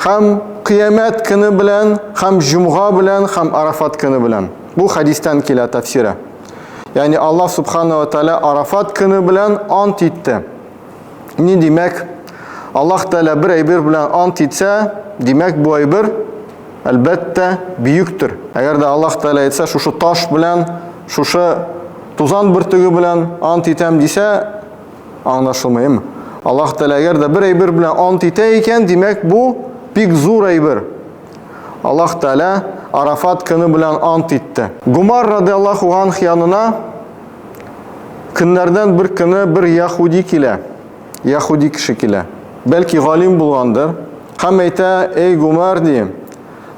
Хәм кыямәт көне белән, хәм җомга белән, хәм Арафат көне белән. Бу хәдистән килә тәфсире. Ягъни Аллаһ субхана ва тәала Арафат көне белән ант итте. Ни димәк? Аллаһ тәала бер әйбер белән ант итсә, димәк бу әйбер әлбәттә бөектер. Әгәр дә Аллаһ тәала әйтсә, шушы таш белән, шушы тузан бөртеге белән ант итәм дисә, Аңлашылмыймы? Аллаһ Тәгалә әгәр дә бер әйбер белән ант итә икән, димәк бу бик зур әйбер. Аллаһ Тәгалә Арафат көне белән ант итте. Гумар радиаллаху анх янына көннәрдән бер көне бер яхуди килә. Яхуди кеше килә. Бәлки галим булгандыр. Һәм әйтә, "Эй Гумар, ди,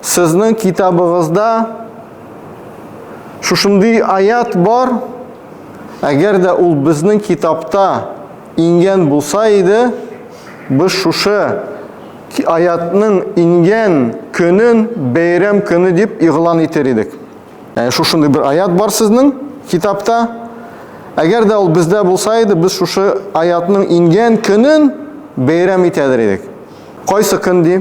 сезнең китабыгызда Шушындый аят бар, әгәр дә ул безнең китапта ингән булса иде, без шушы аятның ингән көнен бәйрәм көне дип игълан итер идек. Ә шушындый бер аят бар сезнең китапта. Әгәр дә ул бездә булса иде, без шушы аятның ингән көнен бәйрәм итәдер идек. Кайсы көн ди?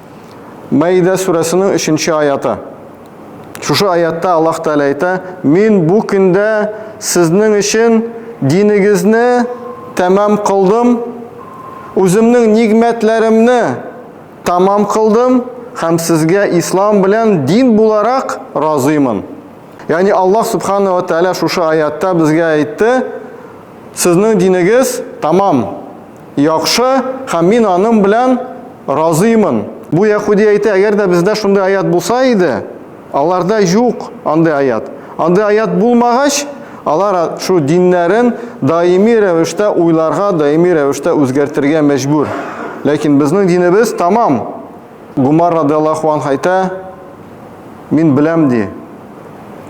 Мәидә сүрәсенең өченче аяты. Шушы аятта Аллаһ Тәгалә әйтә, Мин бу көндә сезнең өчен динегезне тәмам кылдым, үземнең нигмәтләремне тамам кылдым һәм сезгә ислам белән дин буларак разыймын. Ягъни Аллаһ Субхана ва Тәгалә шушы аятта безгә әйтте, сезнең динегез тамам. Яхшы, һәм мин аның белән разыймын. Бу яхуди әйтә, әгәр дә бездә шундый аят булса иде, аларда юк андый аят. Андый аят булмагач, алар шу диннәрен даими рәвештә уйларга, даими рәвештә үзгәртергә мәҗбүр. Ләкин безнең динебез тамам. Гумар радиаллаху анх әйтә, мин беләм ди.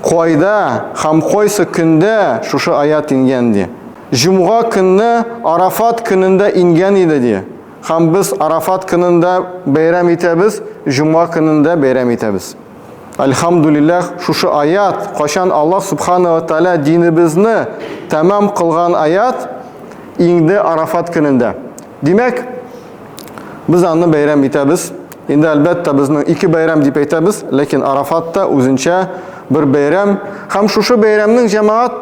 Кайда һәм кайсы көндә шушы аят ингән ди. Җомга көнне Арафат көнендә ингән иде, ди. Һәм без Арафат көнендә бәйрәм итәбез, җомга көнендә бәйрәм итәбез. Әлхәмдүлилләһ, шушы аят, кайчан Аллаһ Субхана ва Тәгалә динебезне тәмам кылган аят, иңде Арафат көнендә. Димәк, без аны бәйрәм итәбез. Инде, әлбәттә, безнең ике бәйрәм дип әйтәбез, ләкин Арафат та үзенчә бер бәйрәм. Һәм шушы бәйрәмнең җәмәгать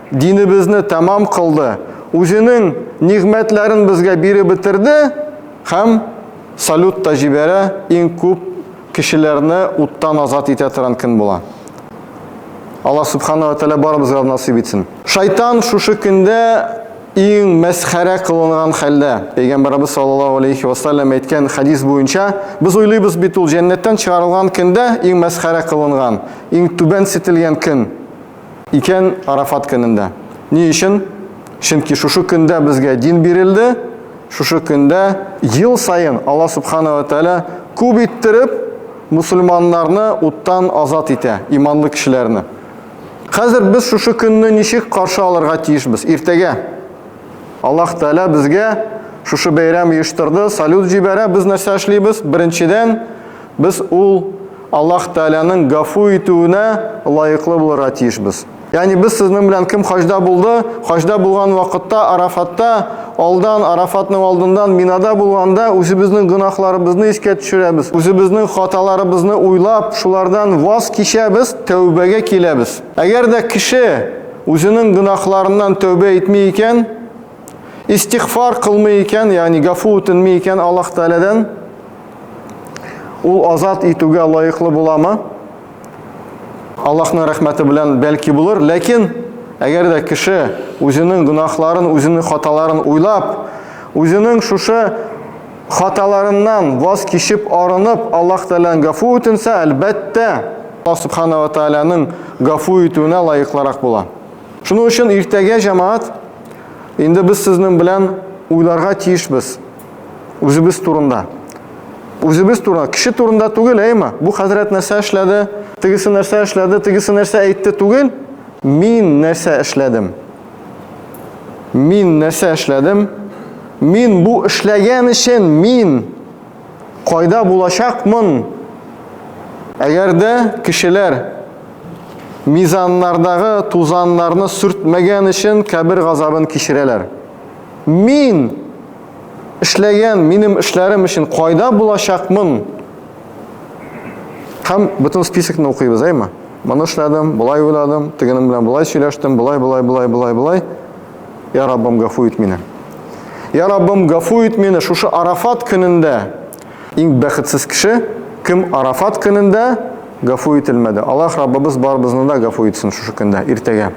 динебезне тәмам кылды, үзенең нигъмәтләрен безгә биреп бетерде һәм салют та җибәрә, иң күп кешеләрне уттан азат итә торган көн була. Аллаһ Сүбхәнәһү вә Тәгалә барыбызга да насыйп итсен. Шайтан шушы көндә иң мәсхәрә кылынган хәлдә. Пәйгамбәребез саллаллаһу алейһи вә сәлләм әйткән хәдис буенча, без уйлыйбыз бит, ул җәннәттән чыгарылган көндә иң мәсхәрә кылынган, иң түбәнсетелгән көн. Икән Арафат көнендә. Ни өчен? Чөнки шушы көндә безгә дин бирелде, шушы көндә ел саен Алла Субхана ва Тәлә күп иттереп мусульманнарны уттан азат итә, иманлы кешеләрне. Хәзер без шушы көнне ничек каршы алырга тиешбез? Иртәгә Аллаһ Тәлә безгә шушы бәйрәм оештырды, салют җибәрә, без нәрсә эшлибез? Беренчедән, Без ул Аллаһ Тәгаләнең гафу итүенә лаеклы булырга тиешбез. Ягъни без сезнең белән кем хаҗда булды, хаҗда булган вакытта Арафатта, алдан Арафатның алдыннан Минада булганда үзебезнең гөнаһларыбызны искә төшерәбез, үзебезнең хаталарыбызны уйлап, шулардан ваз кичәбез, тәүбәгә киләбез. Әгәр дә кеше үзенең гөнаһларыннан тәүбә итми икән, истигъфар кылмый икән, ягъни гафу үтенми икән Аллаһ Тәгаләдән, Ул азат итүгә лаеклы буламы? Аллаһның рәхмәте белән бәлки булыр, ләкин әгәр дә кеше үзенең гөнаһларын, үзенең хаталарын уйлап, үзенең шушы хаталарыннан ваз кичеп, арынып, Аллаһ Тәгаләдән гафу үтенсә, әлбәттә, Аллаһ Субхана ва Тәгаләнең гафу итүенә лаеклырак була. Шуның өчен иртәгә җәмаат инде без сезнең белән уйларга тиешбез. Үзебез турында. Үзебез турында, кеше турында түгел, әйме? Бу хәзрәт нәрсә эшләде, тегесе нәрсә эшләде, тегесе нәрсә әйтте түгел. Мин нәрсә эшләдем? Мин нәрсә эшләдем? Мин бу эшләгән өчен мин кайда булачакмын? Әгәр дә кешеләр мизаннардагы тузаннарны сүртмәгән өчен кабер газабын кичерәләр. Мин эшләгән минем эшләрем өчен кайда булачакмын? Һәм бөтен списокны укыйбыз, әйме? Моны эшләдем, болай уйладым, тегенем белән болай сөйләштем, болай, болай, болай, болай, болай. Я Раббым, гафу ит мине. Я Раббым, гафу ит мине, шушы Арафат көнендә Иң бәхетсез кеше, кем Арафат көнендә гафу ителмәде. Аллаһ Раббыбыз барыбызны да гафу итсен шушы көндә, иртәгә.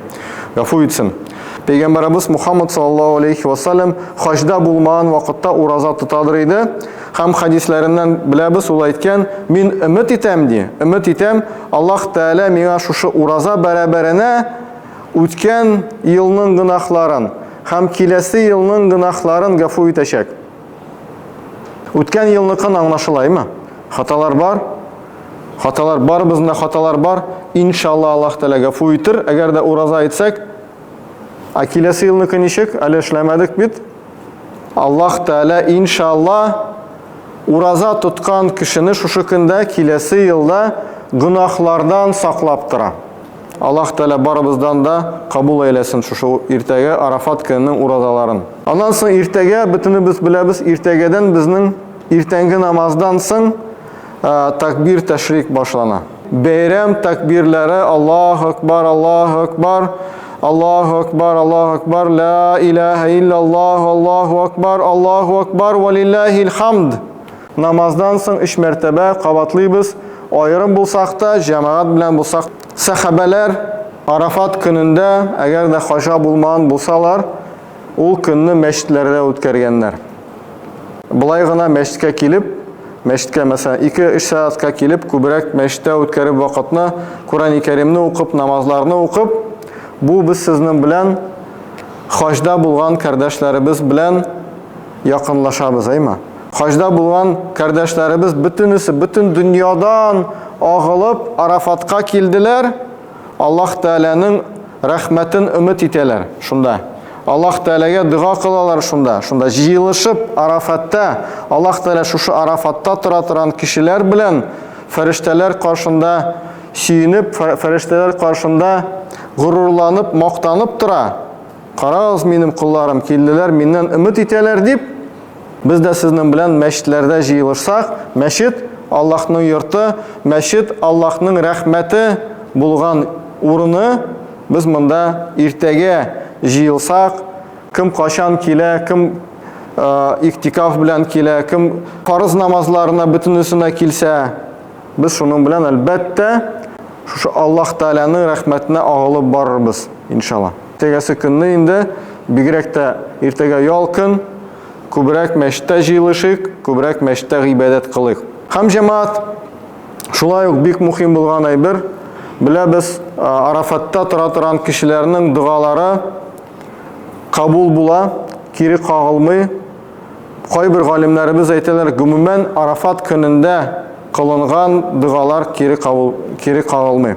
Гафу итсен. Пәйгамбәрабыз Мухаммад саллаллаһу алейхи ва саллям хаҗда булмаган вакытта ураза тотадыр иде. Һәм хадисләреннән беләбез, ул әйткән, мин өмет итәм ди, өмет итәм, Аллаһ Тәгалә миңа шушы ураза бәрабәренә үткән елның гөнаһларын һәм киләсе елның гөнаһларын гафу итәчәк. Үткән елныкын аңлашылаймы? Хаталар бар. Хаталар барыбызында хаталар бар. Иншалла Аллаһ Тәгалә гафу итер. Әгәр дә ураза әйтсәк, а киләсе елныкы ничек? Әле эшләмәдек бит. Аллаһ Тәгалә иншалла ураза тоткан кешене шушы көндә киләсе елда гөнаһлардан саклап тора. Аллаһ Тәгалә барыбыздан да кабул әйләсен шушы иртәгә Арафат көненең уразаларын. Аннан соң иртәгә, бөтенебез беләбез, иртәгәдән безнең иртәнге намаздан соң такбир тәшрик башлана. Бәйрәм такбирләре Аллаһу Акбар, Аллаһу Акбар, Аллаһу Акбар, Аллаһу Акбар, Ла илаһа илляллаһу, Аллаһу Акбар, Аллаһу Акбар, валиллахил хамд. Намаздан соң өч мәртәбә кабатлыйбыз, аерым булсак та, җәмәгать белән булсак та. Сәхабәләр Арафат көнендә, әгәр дә хаҗа булмаган булсалар, ул көнне мәчетләрдә үткәргәннәр. Болай гына мәчеткә килеп, мәчеткә, мәсәлән, ике-өч сәгатькә килеп, күбрәк мәчеттә үткәреп вакытны, Коръәни Кәримне укып, намазларны укып, бу без сезнең белән хаҗда булган кардәшләребез белән якынлашабыз, әйме? Хаҗда булган кардәшләребез бөтенесе бөтен дөньядан агылып Арафатка килделәр. Аллаһ Тәгаләнең рәхмәтен өмет итәләр шунда. Аллаһ Тәгаләгә дога кылалар шунда. Шунда җыелышып Арафатта, Аллаһ Тәгалә шушы Арафатта тора торган кешеләр белән фәрештәләр каршында сөенеп, фәрештәләр каршында горурланып, мактанып тора. Карагыз, минем кулларым килделәр, миннән өмет итәләр дип, Без дә сезнең белән мәчетләрдә җыелышсак, мәчет, Аллаһның йорты, мәчет, Аллаһның рәхмәте булган урыны, без монда иртәгә җыелсак, кем качан килә, кем иктикаф белән килә, кем фарыз намазларына бөтенесенә килсә, без шуның белән әлбәттә шушы Аллаһ Тәгаләнең рәхмәтенә агылып барырбыз, иншалла. Тегәсе көнне инде, бигрәк тә иртәгә ял көн, күбрәк мәчеттә җыелышыйк, күбрәк мәчеттә гыйбадәт кылыйк. Һәм җәмәгать, шулай ук бик мухим булган әйбер, беләбез, Арафатта тора торган кешеләрнең догалары кабул була, кире кагылмый. Кайбер галимнәребез әйтәләр, гомумән, Арафат көнендә кылынган догалар кире кагылмый.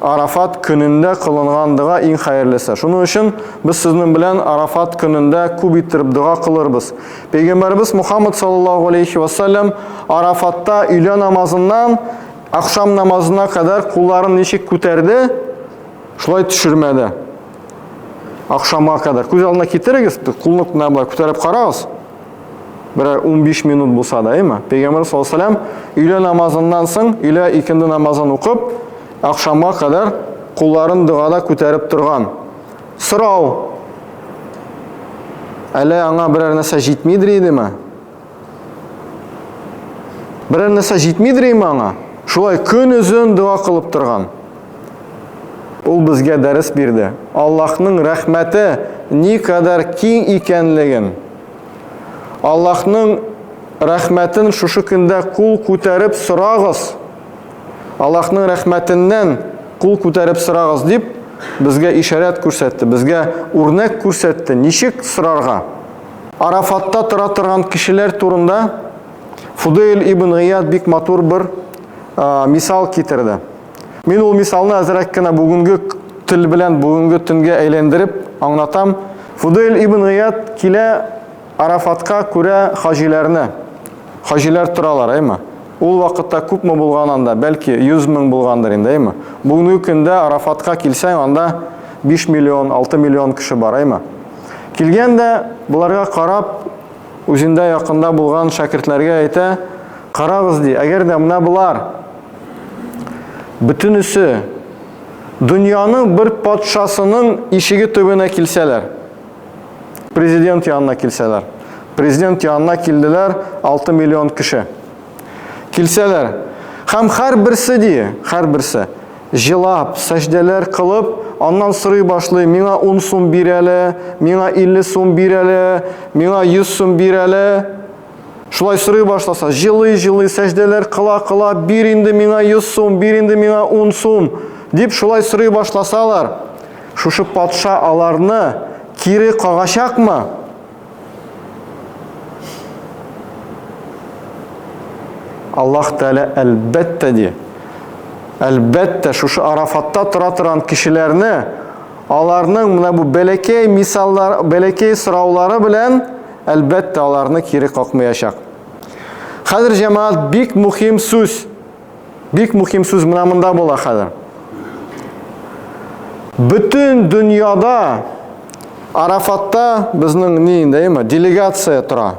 Арафат көнендә кылынган дога иң хәерлесе. Шуның өчен без сезнең белән Арафат көнендә күп иттереп дога кылырбыз. Пәйгамбәрбез Мухаммад саллаллаһу алейхи ва саллям Арафатта өйлә намазыннан ахшам намазына кадәр кулларын ничек күтәрде, шулай төшермәде. Ахшамга кадәр күз алдына китерегез, кулны кына күтәреп карагыз. Берәр 15 минут булса да, әйме? Пәйгамбер саллаллаһу алейһи ва сәлләм өйлә намазыннан соң, өйлә икенде намазын укып, ахшамга кадәр кулларын догада күтәреп торган. Сорау. Әле аңа берәр нәрсә җитмидер идеме? Берәр нәрсә җитмидер име аңа? Шулай көн үзен дога кылып торган. Ул безгә дәрес бирде. Аллаһның рәхмәте ни кадәр киң икәнлеген. Аллаһның рәхмәтен шушы көндә кул күтәреп сорагыз. Аллаһның рәхмәтеннән кул күтәреп сорагыз дип безгә ишарәт күрсәтте, безгә үрнәк күрсәтте, ничек сорарга. Арафатта тора торган кешеләр турында Фудейл ибн Гыйяд бик матур бер мисал китерде. Мин ул мисалны әзрәк кенә бүгенге тел белән бүгенге төнгә әйләндереп аңлатам. Фудель ибн Гыят килә Арафатка күрә хаҗиләрне. Хаҗиләр торалар, әйме? Ул вакытта күпме булган анда, бәлки 100 мең булгандыр инде, әйме? Бүгенге көндә Арафатка килсәң, анда 5 миллион, 6 миллион кеше бар, әйме? Килгән дә боларга карап, үзендә якында булган шәкертләргә әйтә, карагыз ди, әгәр дә менә болар Бөтенесе дөньяның бер патшасының ишеге төбенә килсәләр, президент янына килсәләр, президент янына килделәр 6 миллион кеше. Килсәләр, һәм хәр берсе ди, хәр берсе җылап, сәҗдәләр кылып, аннан сорый башлый, миңа 10 сум бир әле, миңа 50 сум бир әле, миңа 100 сум бир әле. Шулай сорый башласа, җылый-җылый сәҗдәләр кыла-кыла, бир инде миңа 100 сум, бир инде миңа 10 сум, дип шулай сорый башласалар, шушы патша аларны кире кагачакмы? Аллаһ Тәгалә әлбәттә ди. Әлбәттә, шушы Арафатта тора торган кешеләрне аларның менә бу бәләкәй мисаллар, бәләкәй сораулары белән әлбәттә, аларны кире какмыячак. Хәзер, җәмәгать, бик мөһим сүз. Бик мөһим сүз менә монда була хәзер. Бөтен дөньяда Арафатта безнең ни инде, әйме, делегация тора.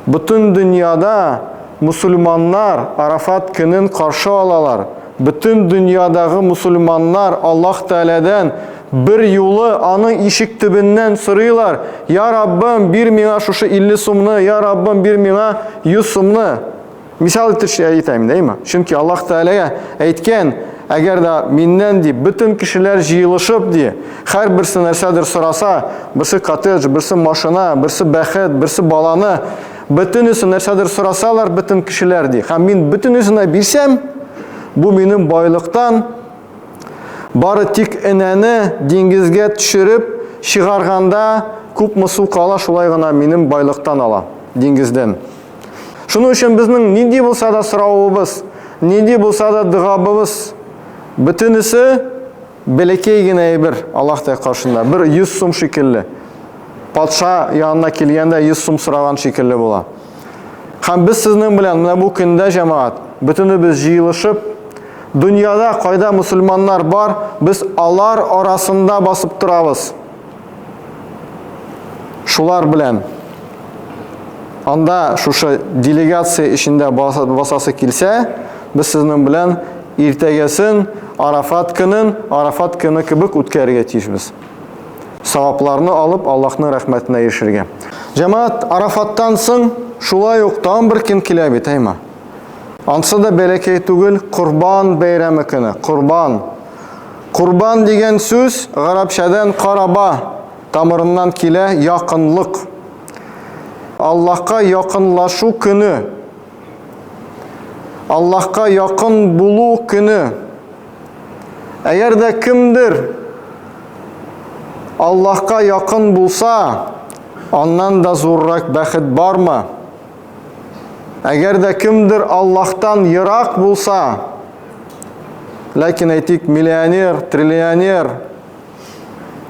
Бөтен дөньяда мусульманнар Арафат көнен каршы алалар. Бөтен дөньядагы мусульманнар Аллаһ Тәгаләдән Бер юлы аның ишек төбеннән сорыйлар, Я Раббым, бир миңа шушы 50 сумны, Я Раббым, бир миңа 100 сумны. Мисал итешли әйтәм, дәйме? Чөнки Аллаһ Тәгаләгә әйткән, әгәр дә миннән ди, бөтен кешеләр җыелышып ди, һәрберсе нәрсәдер сораса, берсе коттедж, берсе машина, берсе бәхет, берсе баланы, бөтенесе нәрсәдер сорасалар бөтен кешеләр ди, һәм мин бөтенесенә бирсәм, бу минем байлыктан Бары тик энәне диңгезгә төшереп чыгарганда күпме су кала, шулай гына минем байлыктан ала, диңгездән. Шуның өчен безнең нинди булса да соравыбыз, нинди булса да догабыбыз, бөтенесе бәләкәй генә әйбер Аллаһ Тәгалә каршында, бер 100 сум шикелле. Патша янына килгәндә 100 сум сораган шикелле була. Һәм без сезнең белән менә бу көндә, җәмәгать, бөтенебез җыелышып, дөньяда кайда мусульманнар бар, без алар арасында басып торабыз. Шулар белән анда шушы делегация эчендә басасы килсә, без сезнең белән иртәгәсен Арафат көнен Арафат көне кебек үткәрергә тиешбез. Савапларны алып, Аллаһның рәхмәтенә ирешергә. Җәмәгать, Арафаттан соң шулай ук тагын бер көн килә бит, әйма. Ансы да бәләкәй түгел, Корбан бәйрәме көне. Корбан. Курбан дигән сүз гарәпчәдән караба тамырыннан килә, якынлык. Аллаһка якынлашу көне. Аллаһка якын булу көне. Әгәр дә кемдер Аллаһка якын булса, аннан да зуррак бәхет бармы? Әгәр дә кемдер Аллаһтан ерак булса, ләкин әйтик, миллионер, триллионер,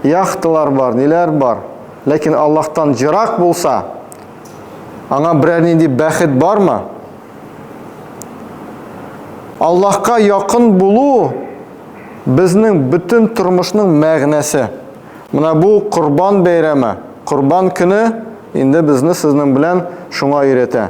яхталар бар, ниләр бар, ләкин Аллаһтан ерак булса, аңа берәр нинди бәхет бармы? Аллаһка якын булу безнең бөтен тормышның мәгънәсе. Менә бу Корбан бәйрәме, Корбан көне инде безне сезнең белән шуңа өйрәтә.